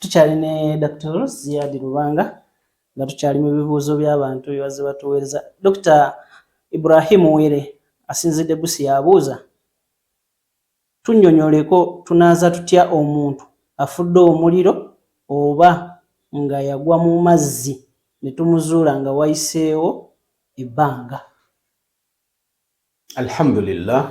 tukyali ne Dr. Ziyadi Lubanga nga tukyali mu bibuuzo by'abantu byebazze batuweereza. Dokita Ibrahim Were asinzidde Busia abuuza tunnyonyoleko tunaaza tutya omuntu afudde omuliro oba nga yagwa mu mazzi ne tumuzuula nga wayiseewo ebbanga. Alhamdulillah,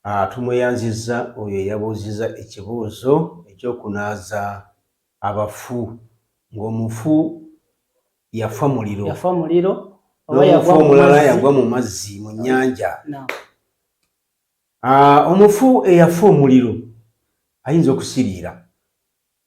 ah, tumweyanzizza oyo eyabuuzizza ekibuuzo ekyokunaaza abafu ng'omufu yafa muliro yafa muliro n'omufu omulala yagwa mu mazzi mu nnyanja ah, omufu eyafa omuliro ayinza okusiriira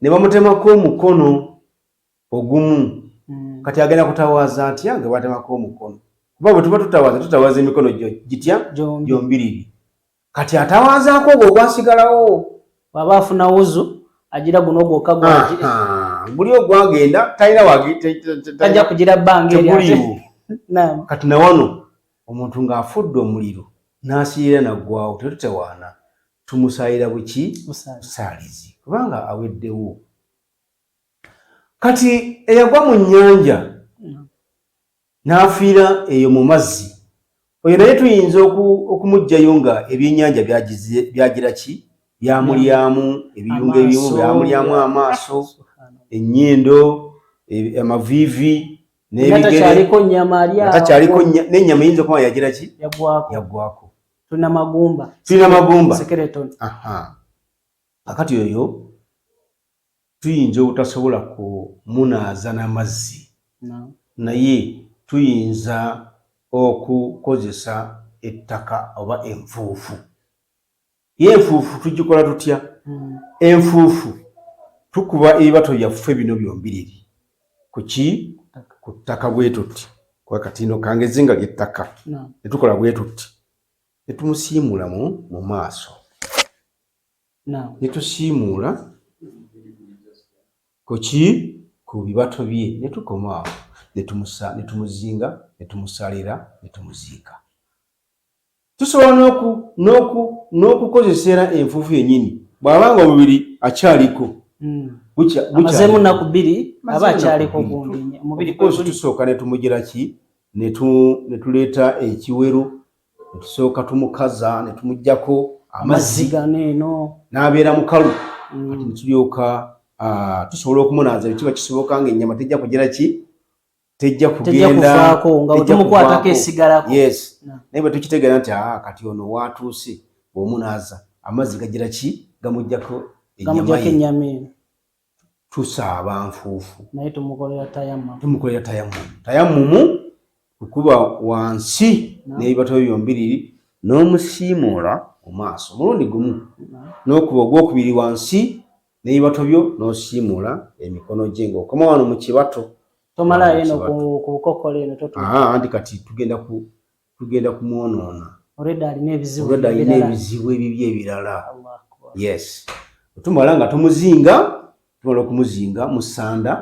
ne bamutemako omukono ogumu kati agenda kutawaaza atya nga batemako omukono kuba bwe tuba tutawaaza tutawaaza emikono gitya gyombiriri kati atawaazaako ogwo ogwasigalawo waba afuna wuzu agira guno ogwoka guli ogwagenda talina wagitajja kugira bbanga kati nawano Omuntu nga afudde omuliro n'asiyira naggwawo tetutawaana tumusaalira buki busaalizi kubanga aweddewo. Kati eyagwa mu nnyanja n'afiira eyo mu mazzi oyo naye tuyinza okumuggyayo nga ebyennyanja byagira ki byamulyamu ebiyungo ebimu byamulyamu amaaso ennyindo amaviivi n'ebigeretakyaliko nyama alyatakyaliko n'enyama eyinza okuba yagira ki yagwako tulina magumba tulina magumba skeleton akati oyo tuyinza obutasobola kumunaaza n'amazzi naye tuyinza okukozesa ettaka oba enfuufu ye enfuufu tugikola tutya hmm. enfuufu tukuba ebibato byaffe bino byombiriri kuki ku ttaka bwetuti kuba katino kange ezinga lyettaka netukola bwetuti netumusiimulamu mu maaso netusiimuula kuki ku bibato bye netukomaawo netumuzinga netumusalira netumuziika Tusobola n'oku, n'oku, n'okukozesa era enfuufu yennyini bw'aba nga omubiri akyaliko. Mm. Amazeemu nnaku bbiri aba akyaliko gundi omubiri gwe guli. Tusooka ne tumugira ki? Ne tuleeta ekiwero, ne tusooka tumukaza, ne tumugyako amazzi gano eno n'abeera mukalu mm. kati ne tulyoka ah, tusobola okumunaaza bwe kiba kisoboka ng'ennyama tejja kugira ki tejja kugendakuvaako nga wetumukwatako esigalako yes naye bwe tukitegeera nti aa ah, kati ono waatuuse bwomu naaza amazzi gagira ki gamugjako enyama eno tusaaba nfuufu naye tumukolera tayamu tumukolera tayamu tayamumu kukuba wansi n'ebibato byo byombiriri n'omusiimuula mu maaso omulundi gumu n'okuba ogwokubiri wansi n'ebibato byo n'osiimuula emikono gye ng'okoma wano mu kibato tomalayo eno ku bukokola eno anti kati tugenda ku tugenda kumwonoona olwedda alina ebizibu olwedda alina ebizibu ebibi ebirala yes otumala nga tumuzinga tumala okumuzinga musanda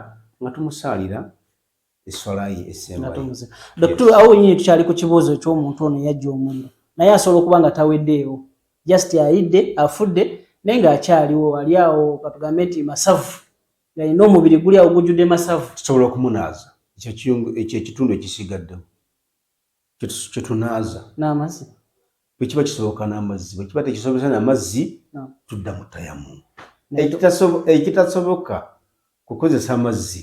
nga tumusaalira Doktor, awo nyinyi tukyali ku kibuuzo eky'omuntu ono yajja omuliro naye asobola okuba nga taweddeewo just ayidde afudde naye ng'akyaliwo ali awo katugambe nti masavu galina omubiri guli awo gujjudde masavu tusobola okumunaaza ekyo ekitundu ekisigaddemu kyetunaaza n'amazzi bwekiba kisoboka n'amazzi bwekiba tekisobesa n'amazzi tudda mutayamu ekitasoboka kukozesa amazzi